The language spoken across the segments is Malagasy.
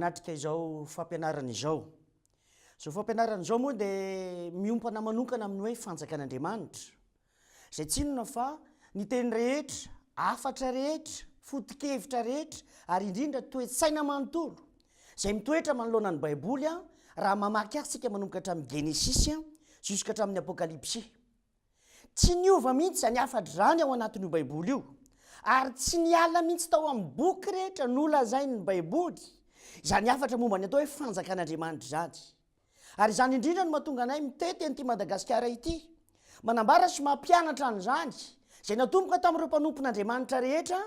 manatrika izao fampianarana izao. Izao fampianarana izao moa dia miompana manokana amin'ny hoe fanjakan'Andriamanitra. Izay tsy inona fa ny teny rehetra, hafatra rehetra, foto-kevitra rehetra ary indrindra toe-tsaina manontolo izay mitoetra manoloana ny Baiboly raha mamaky azy isika manomboka hatramin'ny Genesisy juska hatramin'ny Apokalypsy. Tsy niova mihitsy izany hafatra izany ao anatin'io Baiboly io ary tsy niala mihitsy tao amin'ny boky rehetra nolazain'ny Baiboly izany hafatra momba ny atao hoe Fanjakan'Andriamanitra izany. Ary izany indrindra no mahatonga anay mitety an'ity Madagasikara ity. Manambara sy mampianatra an'izany izay natomboka tamin'ireo mpanompon'Andriamanitra rehetra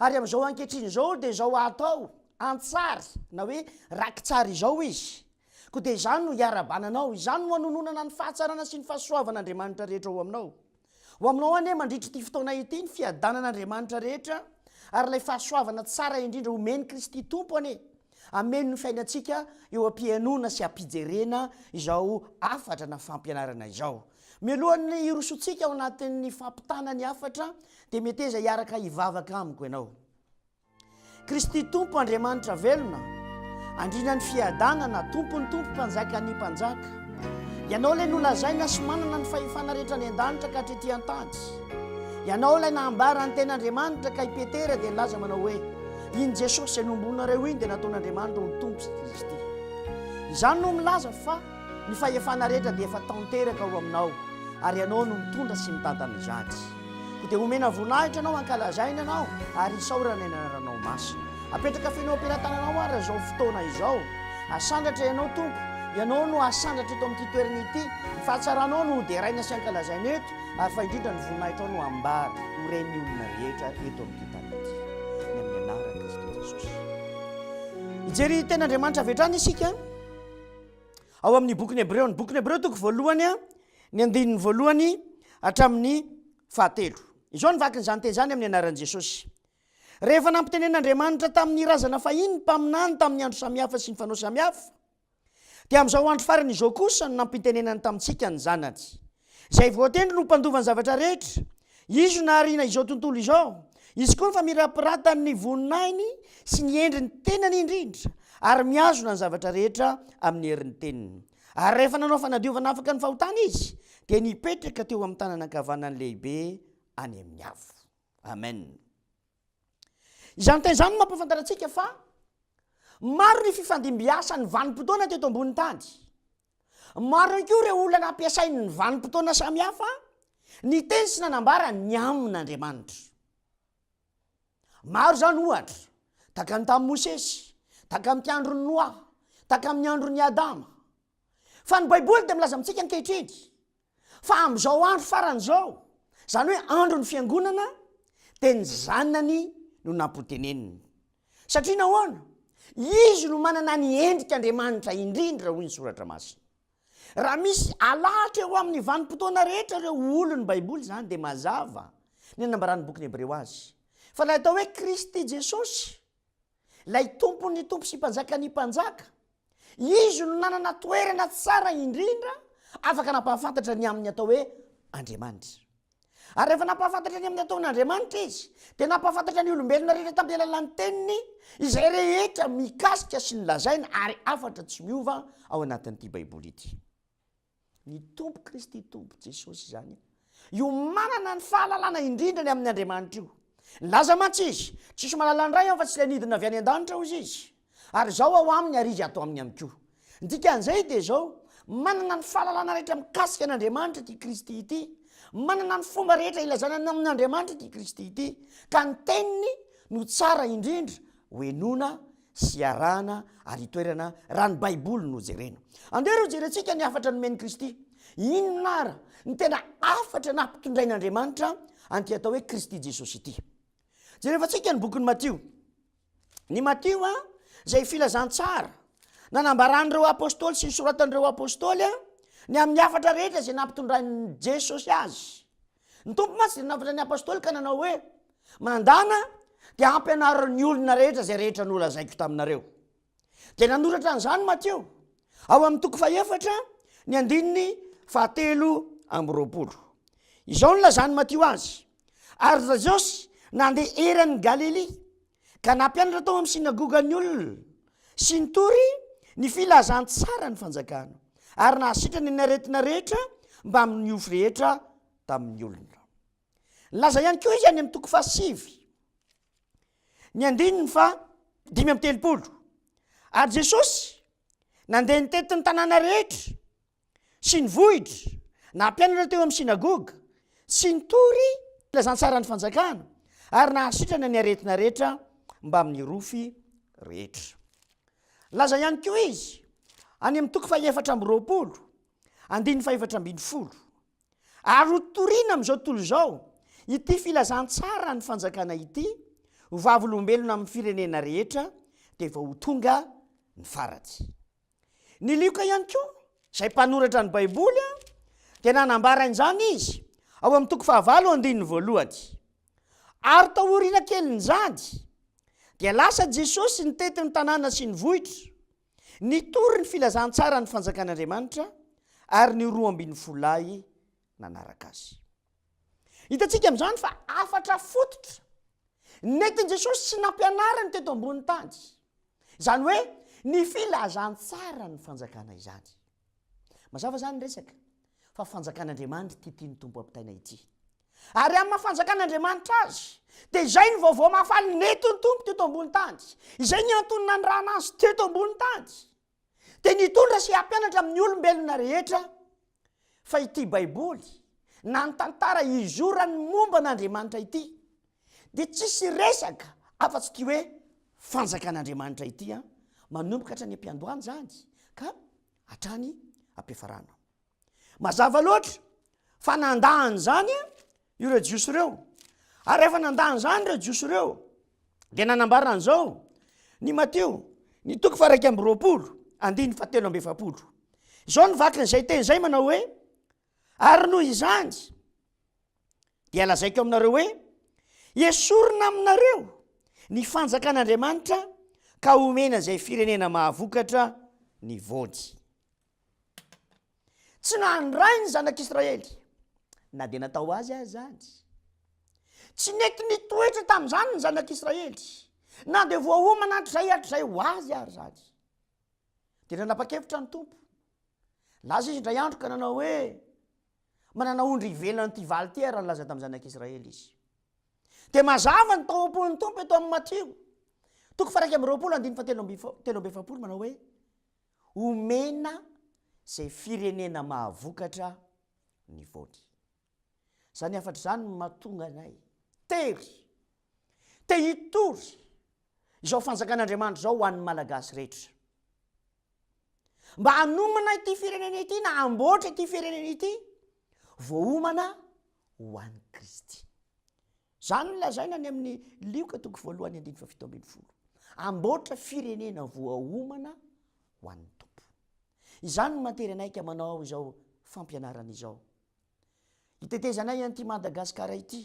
ary amin'izao ankehitriny izao dia izao atao an-tsary na hoe raki-tsary izao izy. Koa dia izany no iarabananao, izany no hanononana ny fahatsarana sy ny fahasoavan'Andriamanitra rehetra ao aminao. Ho aminao anie mandritra ity fotoana ity ny fiadanan' Andriamanitra rehetra ary ilay fahasoavana tsara indrindra homen'i Kristy Tompo anie hameno ny fiainantsika eo am-pihenoana sy am-pijerena izao hafatra na fampianarana izao. Mialohan'ny hirosoantsika ao anatin'ny fampitana ny hafatra dia meteza hiaraka hivavaka amiko ianao. Kristy Tompo Andriamanitra velona, Andriana ny fiadanana, Tompon'ny Tompo, Mpanjakan'ny mpanjaka. Ianao ilay nolazaina sy manana ny fahefana rehetra any an-danitra ka hatrety an-tany. Ianao ilay nahambara ny tena Andriamanitra ka i Petera dia nilaza manao hoe, Iny Jesosy izay nombonareo iny dia nataon'Andriamanitra ho Tompo sy Kristy. Izany no milaza fa. Ny fahefana rehetra dia efa tanteraka ao aminao ary ianao no mitondra sy mitantana izany. Koa dia omena voninahitra anao, ankalazaina anao ary isaorana ny anaranao masina. Apetraka feno am-pelatananao ary izao fotoana izao. Asandratra ianao Tompo, ianao no asandratra eto amin'ity toerana ity. Ny fahatsaranao no hoderaina sy ankalazaina eto ary fa indrindra ny voninahitrao no ambara ho ren'ny olona rehetra eto amin'ity tany ity. Ny amin'ny anaran'i Kristy Jesosy. Hijery tena Andriamanitra avy hatrany isika. ao amin'ny bokin'ny Hebreo, ny bokin'ny Hebreo toko voalohany a, ny andininy voalohany hatramin'ny fahatelo. Izao ny vakin'izany teny izany amin'ny anaran'i Jesosy. Rehefa nampitenen'Andriamanitra tamin'ny razana fahiny ny mpaminany tamin'ny andro samihafa sy ny fanao samihafa, dia amin'izao andro farany izao kosa no nampitenenany tamintsika ny Zanany. Izay voatendry no mpandova ny zavatra rehetra. Izy no nahariana izao tontolo izao. Izy koa no famirapiratan' ny voninahiny sy ny endry ny tenany indrindra, ary mihazona ny zavatra rehetra amin' ny herin' ny teniny. Ary rehefa nanao fanadiovana afaka ny fahotana Izy, dia nipetraka teo amin' ny tanana ankavanany lehibe any amin' ny avo. Amena. Izany teny izany no mampahafantatra antsika fa maro ny fifandimbiasan'ny vanim-potoana teto ambonin'ny tany. Maro ihany koa ireo olona nampiasain'ny vanim-potoana samihafa ny teny sy nanambara ny amin'Andriamanitra. Maro izany ohatra, takany tamin'i Mosesy, takamin'ny andron'i Noa, takamin'ny andron'i Adama. Fa ny Baiboly dia milaza amintsika ankehitriny Fa amin'izao andro farany izao, izany hoe andron'ny Fiangonana, dia ny Zanany no nampoteneniny. Satria nahoana? Izy no manana ny endrik'Andriamanitra indrindra, hoy ny Soratra Masina. Raha misy alahatra eo amin'ny vanim-potoana rehetra ireo olon'ny Baiboly izany, dia mazava ny nambaran'ny bokin'ny Hebreo azy, fa ilay atao hoe Kristy Jesosy, Ilay Tompon'ny tompo sy Mpanjakan'ny mpanjaka, Izy no nanana toerana tsara indrindra afaka nampahafantatra ny amin'ny atao hoe Andriamanitra. Ary rehefa nampahafantatra ny amin'ny ataon'Andriamanitra Izy, dia nampahafantatra ny olombelona rehetra tamin'ny alalan'ny Teniny izay rehetra mikasika sy ny lazaina ary hafatra tsy miova ao anatin'ity Baiboly ity. Ny Tompo Kristy Tompo Jesosy izany io manana ny fahalalana indrindra ny amin'ny Andriamanitra io. Nilaza mantsy Izy, Tsisy mahalala ny Ray aho fa tsy ilay nidina avy any an-danitra hozy Izy. Ary Izaho ao aminy ary Izy ato aminy ihany koa. Ny dikan'izay dia izao, manana ny fahalalana rehetra mikasika an' Andriamanitra ity Kristy ity. Manana ny fomba rehetra ilazana ny amin' Andriamanitra ity Kristy ity. Ka ny Teniny no tsara indrindra hohenoina sy iarahana ary itoerana raha ny Baiboly no jerena. Andeha ary hojerentsika ny hafatra nomen'i Kristy. Inona àry ny tena hafatra nampitondrain'Andriamanitra an'ity atao hoe Kristy Jesosy ity? Jerevantsika ny bokin'i Matio. Ny Matio a, izay filazantsara nanambaran'ireo apôstôly sy ny soratan'ireo apôstôly ny amin'ny hafatra rehetra izay nampitondrain'i Jesosy azy. Ny Tompo mantsy dia nanavotra ny Apostoly ka nanao hoe, Mandàna dia hampianaro ny olona rehetra izay rehetra nolazaiko taminareo. Dia nanoratra an'izany Matio, ao amin'ny toko fahefatra, ny andininy fahatelo amby roapolo. Izao no nilazan'i Matio azy, Ary ry Jesosy nandeha eran'i Galilia, ka nampianatra tao amin'ny synagoga ny olona sy nitory ny filazantsaran'ny fanjakana ary nahasitrana ny aretina rehetra mbamin'ny ofo rehetra tamin'ny olona. Nilaza ihany koa izy any amin'ny toko fahasivy ny andininy fa dimy amby telopolo ary Jesosy nandeha nitety ny tanàna rehetra sy ny vohitra nampianatra teo amin'ny synagoga sy nitory ny filazantsaran'ny Fanjakana ary nahasitrana ny aretina rehetra mbamin'ny rofy rehetra. Nilaza ihany koa izy any amin'ny toko fahefatra amby roapolo, andininy fahefatra ambin'ny folo, Ary ho toriana amin'izao tontolo izao ity filazantsaran'ny Fanjakana ity ho vavolombelona amin'ny firenena rehetra dia vao ho tonga ny farany. Ny Lioka ihany koa, izay mpanoratra ny Baiboly, dia nanambara an'izany izy ao amin'ny toko fahavalo andininy voalohany. Ary taoriana kelin'izany, dia lasa Jesosy nitety ny tanàna sy ny vohitra, nitory ny filazantsaran'ny Fanjakan'Andriamanitra, ary ny roa ambin'ny folo lahy nanaraka azy. Hitantsika amin'izany fa hafatra fototra nentin'i Jesosy sy nampianariny teto ambonin'ny tany, izany hoe ny filazantsaran'ny fanjakana izany. Mazava izany ny resaka fa fanjakan'Andriamanitra ity tian'ny Tompo hampitaina ity. Ary amin'ny maha-fanjakan'Andriamanitra azy, dia izay ny vaovao mahafaly nentin'ny Tompo teto ambonin'ny tany, izay ny antony nanirahana azy teto ambonin'ny tany. Dia nitondra sy hampianatra amin'ny olombelona rehetra fa ity Baiboly na ny tantara izorany momba an'Andriamanitra ity dia tsisy resaka afa-tsy ity hoe fanjakan'Andriamanitra ity an, manomboka hatrany am-piandohana izany ka hatrany am-piafarana. Mazava loatra fa nandà an'izany ireo Jiosy ireo. Ary rehefa nandà an'izany ireo Jiosy ireo, dia nanambara an'izao ny Matio, ny toko faraika amby roapolo, andininy fahatelo amby efapolo. Izao ny vakin'izay teny izay manao hoe, ary noho izany, dia lazaiko aminareo hoe, esorina aminareo ny fanjakan'Andriamanitra ka homena izay firenena mahavokatra ny voany. Tsy nandray ny zanak'Israely na dia natao azy aza izany. Tsy nety nitoetra tamin'izany ny zanak'Israely na dia voaomana hatrizay hatrizay ho azy ary izany. Dia nanapa-kevitra ny Tompo. Lasa izy indray andro ka nanao hoe manana ondry ivelan'ity valy ity ary nilaza tamin'ny zanak'Israely izy. Dia mazava ny tao am-pon'ny Tompo eto amin'ny Matio toko fairaika amby roapolo andininy fahatelo amby telo amby efapolo manao hoe Omena izay firenena mahavokatra ny voany. Izany hafatra izany no mahatonga anay tery, te hitory izao fanjakan'Andriamanitra izao ho an'ny Malagasy rehetra. Mba hanomana ity firenena ity na hamboatra ity firenena ity, voaomana ho an'i Kristy. Izany no lazaina any amin'ny Lioka toko voalohany andininy fahafito ambin'ny folo. Amboatra firenena voaomana ho an'ny Tompo. Izany no mahatery anay ka manao izao fampianarana izao. Itetezanay an'ity Madagascar ity.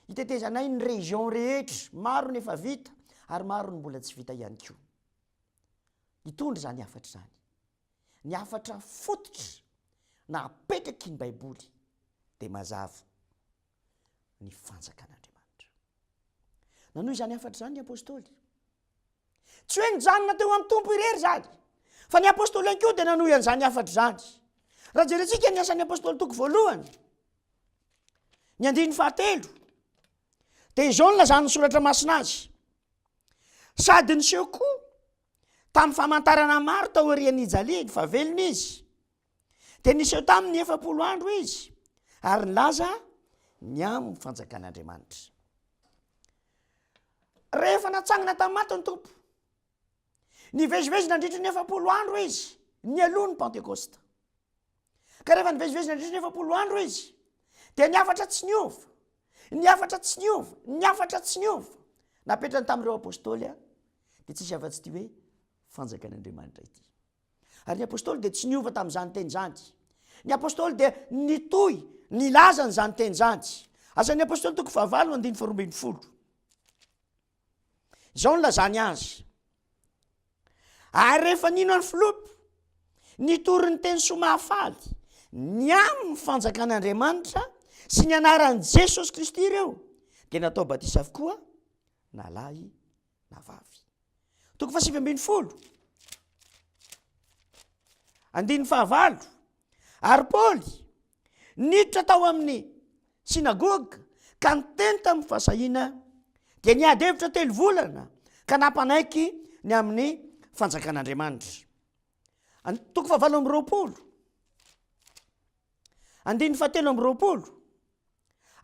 Itetezanay ny région rehetra, maro ny efa vita ary maro ny mbola tsy vita ihany koa. Hitondra izany hafatra izany. Ny hafatra fototra na apetraky ny Baiboly dia mazava. ny fanjakan'Andriamanitra. Nanohy izany hafatra izany ny apôstôly. Tsy hoe nijanona teo amin'ny Tompo irery izany, fa ny apôstôly ihany koa dia nanohy an'izany hafatra izany. Raha jerentsika ny asan'ny apôstôly toko voalohany, ny andininy fahatelo, dia izao ny lazan'ny soratra masina azy. Sady niseho koa tamin'ny famantarana maro tao aorian'ny hijaliany fa velona izy, dia niseho tamin'ny efapolo andro izy ary nilaza ny amin'ny fanjakan'andriamanitra rehefa natsangana tamin'ny maty ny tompo nivezivezy nandritry ny efapolo andro izy ny aloha ny pentekosta ka rehefa nivezivezy nandritry ny efapolo andro izy dia ny afatra tsy niova ny afatra tsy niova ny afatra tsy niova napetrany tamin'ireo apôstôly a dia tsisy afa-tsy ity hoe fanjakan'andriamanitra ity Ary ny Apostoly dia tsy niova tamin'izany teny izany. Ny Apostoly dia nitohy nilaza an'izany teny izany. Asan'ny Apostoly toko fahavalo andininy faharoa ambin'ny folo. Izao nilazany azy. Ary rehefa nino an'i Filopy, nitory ny teny soa mahafaly ny amin'ny fanjakan'Andriamanitra sy ny anaran'i Jesosy Kristy ireo, dia natao batisa avokoa na lahy na vavy. Toko fahasivy ambin'ny folo andininy fahavalo ary Paoly niditra tao amin'ny synagoga ka niteny tamin'ny fahasahiana dia niady hevitra telo volana ka nampanaiky ny amin'ny fanjakan'Andriamanitra. Toko fahavalo amby roapolo. Andininy fahatelo amby roapolo,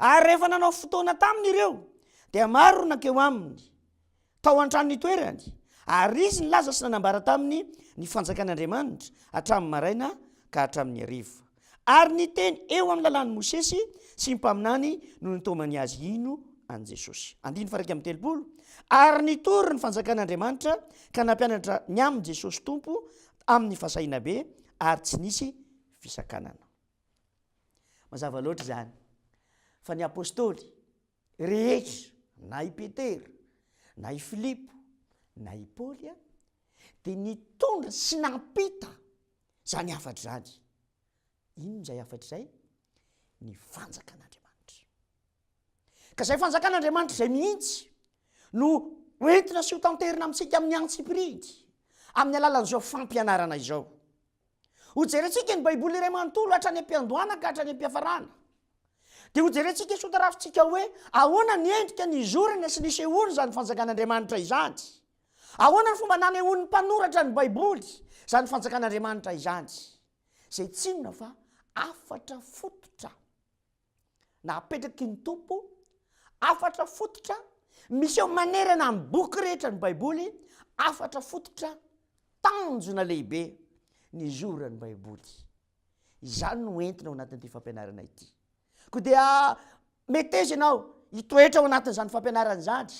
Ary rehefa nanao fotoana taminy ireo, dia maro no nankeo aminy tao an-trano nitoerany, ary izy nilaza sy nanambara taminy ny fanjakan'Andriamanitra hatramin'ny maraina ka hatramin'ny hariva. Ary ny teny eo amin'ny lalàn'i Mosesy sy ny mpaminany no nitaomany azy hino an'i Jesosy. Andininy faha-iraika amby telopolo, Ary nitory ny fanjakan'Andriamanitra ka nampianatra ny amin'i Jesosy Tompo amin'ny fahasahiana be, ary tsy nisy fisakanana. Mazava loatra izany fa ny Apostoly rehetra na i Petera na i Filipo na i Paoly a, dia nitondra sy nampita izany hafatra izany. Inona izay hafatra izay? Ny fanjakan'Andriamanitra. Ka izay fanjakan'Andriamanitra izay mihitsy no hoentina sy hotanterina amintsika amin'ny antsipiridy amin'ny alalan'izao fampianarana izao. Hojerentsika ny Baiboly iray manontolo hatrany am-piandohana ka hatrany am-piafarana. Dia hojerentsika sy hotarafintsika hoe ahoana ny endrika nizorana sy nisehoana izany fanjakan'Andriamanitra izany. Ahoana ny fomba nanehoan'ny mpanoratra ny Baiboly izany fanjakan'Andriamanitra izany, izay tsy inona fa hafatra fototra. Na apetraky ny Tompo hafatra fototra miseho manerana ny boky rehetra ny Baiboly, hafatra fototra tanjona lehibe ny zora ny Baiboly. Izany no entina ao anatin'ity fampianarana ity. Koa dia meteza ianao hitoetra ao anatin'izany fampianarana izany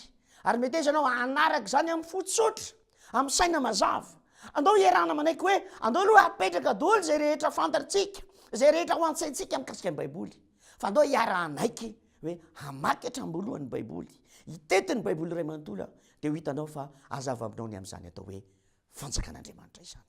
ary meteza ianao hanaraka izany amin'ny fo tsotra. amin'ny saina mazava. Andao hiarahana manaiky hoe andao aloha hapetraka daholo izay rehetra fantatrtsika, izay rehetra ao an-tsaintsika mikasika ny Baiboly, fa andao hiara-hanaiky hoe hamaky hatram-boalohany ny Baiboly, hitety ny Baiboly iray manontolo aho, dia ho hitanao fa hazava aminao ny amin'izany atao hoe fanjakan'Andriamanitra izany.